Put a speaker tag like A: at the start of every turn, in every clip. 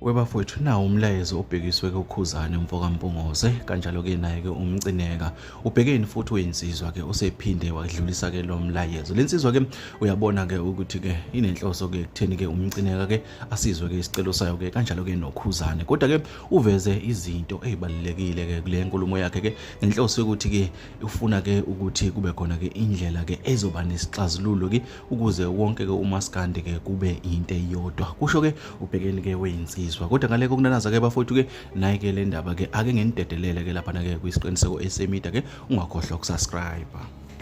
A: webafowethu nawo umlayezo obhekiswe kukhuzane mfokampungose kanjalo-ke naye-ke umcineka ubhekeni futhi uyinsizwa-ke osephinde wadlulisa-ke lo mlayezo le nsizwa-ke uyabona-ke ukuthi-ke inenhloso-ke ekutheni-ke umcineka-ke asizwe-ke isicelo sayo-ke kanjalo-ke nokhuzane kodwa-ke uveze izinto ey'balulekile-ke kule nkulumo yakhe-ke ngenhloso yokuthi-ke ufuna-ke ukuthi kube khona-ke indlela-ke ezoba nesixazululo-ke ukuze wonke ke umaskandi ke kube into eyodwa kusho ke ubhekeni ke weyinsizwa kodwa ngale kokunanaza ke bafowethu ke naye ke le ndaba ke ake ngenidedelele ke lapha ke kwisiqiniseko esemida ke ungakhohlwa ukusubscribe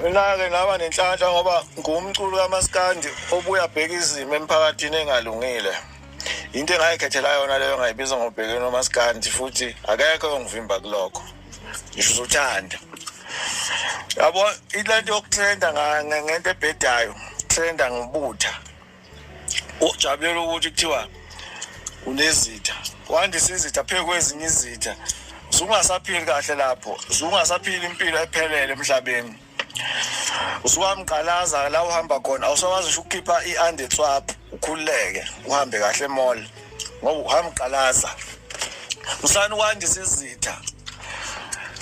A: mina-ke
B: ngaba nenhlanhla ngoba ngumculo kamaskandi obuya bheka izimo emphakathini engalungile into engayikhethela yona leyo ngayibiza ngobhekeni omaskandi futhi akekho ongivimba kulokho ngisho uzothanda yabo ilento yokutrenda ngento ebhedayo trenda ngobutha ujabulela ukuthi kuthiwa unezitha wandisa izitha phezu kwezinye izitha zungasaphili kahle lapho zungasaphili impilo ephelele emhlabeni usuwamgqalaza la uhamba khona awusakwazi usho ukukhipha i-under swap ukhululeke uhambe kahle emall ngoba uhamgqalaza musani ukwandisa izitha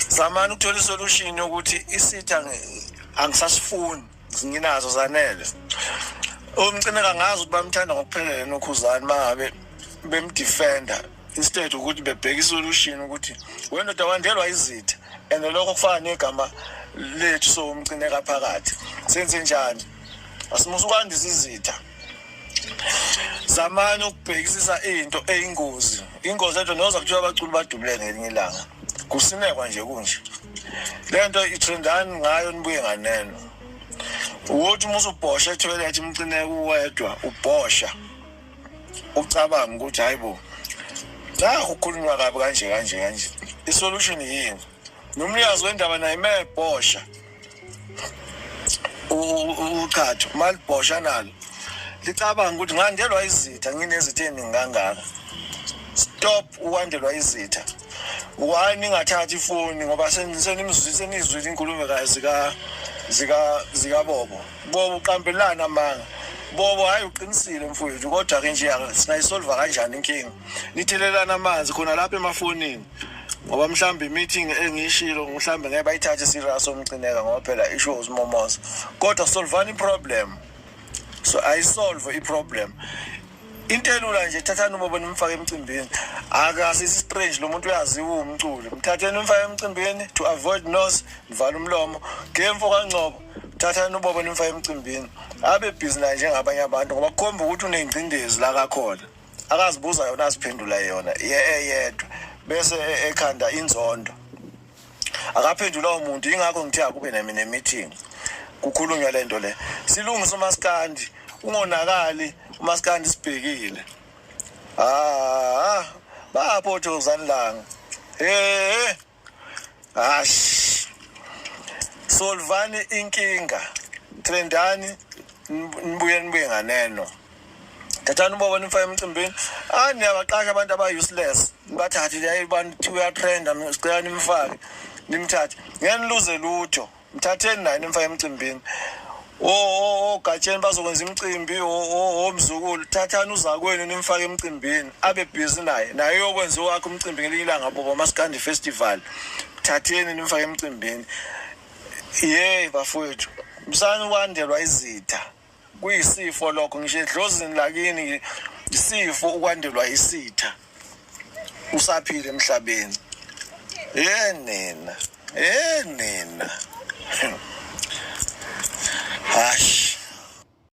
B: zamani ukuthola isolution yokuthi isitha angisasifuni nginazo zanele umcimeka ngazi ukuthi bamthanda ngokuphelele nokhuzani mangabe bemdefender instead ukuthi bebheke isolution ukuthi wendoda wandelwa izitha and lokho kufana negama lethu so umcineka phakathi senze njani asimusa ukwandisa izitha zamani ukubhekisisa into eyingozi ingozi ento noza kuthiwa abaculi badubule ngelinye ilanga kusinekwa nje kunje le nto ithrendani ngayo nibuye nganeno ukuthi uma usubhosha ethoyilethi umcineka uwedwa ubhosha ucabanga ukuthi hayi bo nakho ukhulunywa kabi kanje kanje kanje isolution yini nomnikazi wendaba naye mebhosha uqhatho malibhosha nalo licabanga ukuthi ngandelwa izitha nginezitha eningi kangaka stop ukwandelwa izitha why ningathathi ifoni ngoba senimzwise nizwile inkulumo zika zika zikabobo Bobo uqambelana amanga. Bobo hayi uqinisile mfowethu kodwa ke nje singayisolva kanjani inkinga. Nithelelana amanzi khona lapha emafonini. Ngoba mhlambe meeting engishilo mhlambe ngeke bayithathe serious omcineka ngoba phela isho uSimomoza. Kodwa solvani problem. So I solve i problem. into elula nje thathani ubobo nimfake emcimbini akasi strange lo muntu uyaziwa umculo mthatheni umfake emcimbini to avoid nose nivala umlomo ngemfo kangcobo thathani ubaba nimfake emcimbini abe busy naye njengabanye abantu ngoba kukhomba ukuthi unengcindezi la kakhona akazibuza yona aziphendula yona eyedwa bese e-, ekhanda inzondo akaphendula umuntu ingakho ngithe akube nami ne-meeting kukhulunywa le nto le silungise umaskandi ungonakali umaskandi sibhekile ah, ah. baphothozani langa he hash solvani inkinga trendani nibuye nibuye nganeno thathani ubobo nimfake emcimbini ah niyabaqasha abantu aba-useless nibathathe yaye abantu thiwe uyatrenda sicela nimfake nimthathe ngeke niluze lutho mthatheni naye nimfake emcimbini ogatsheni bazokwenza imicimbi omzukulu thathani uzakwenu nimfake emcimbini abe bhizi naye naye uyokwenza owakhe umcimbi ngelinye ilanga bobo masikandi festival thatheni nimfake emcimbini ye bafowethu msani wandelwa izitha kuyisifo lokho ngisho edlozini lakini isifo ukwandelwa isitha usaphile emhlabeni eh nina eh nina hash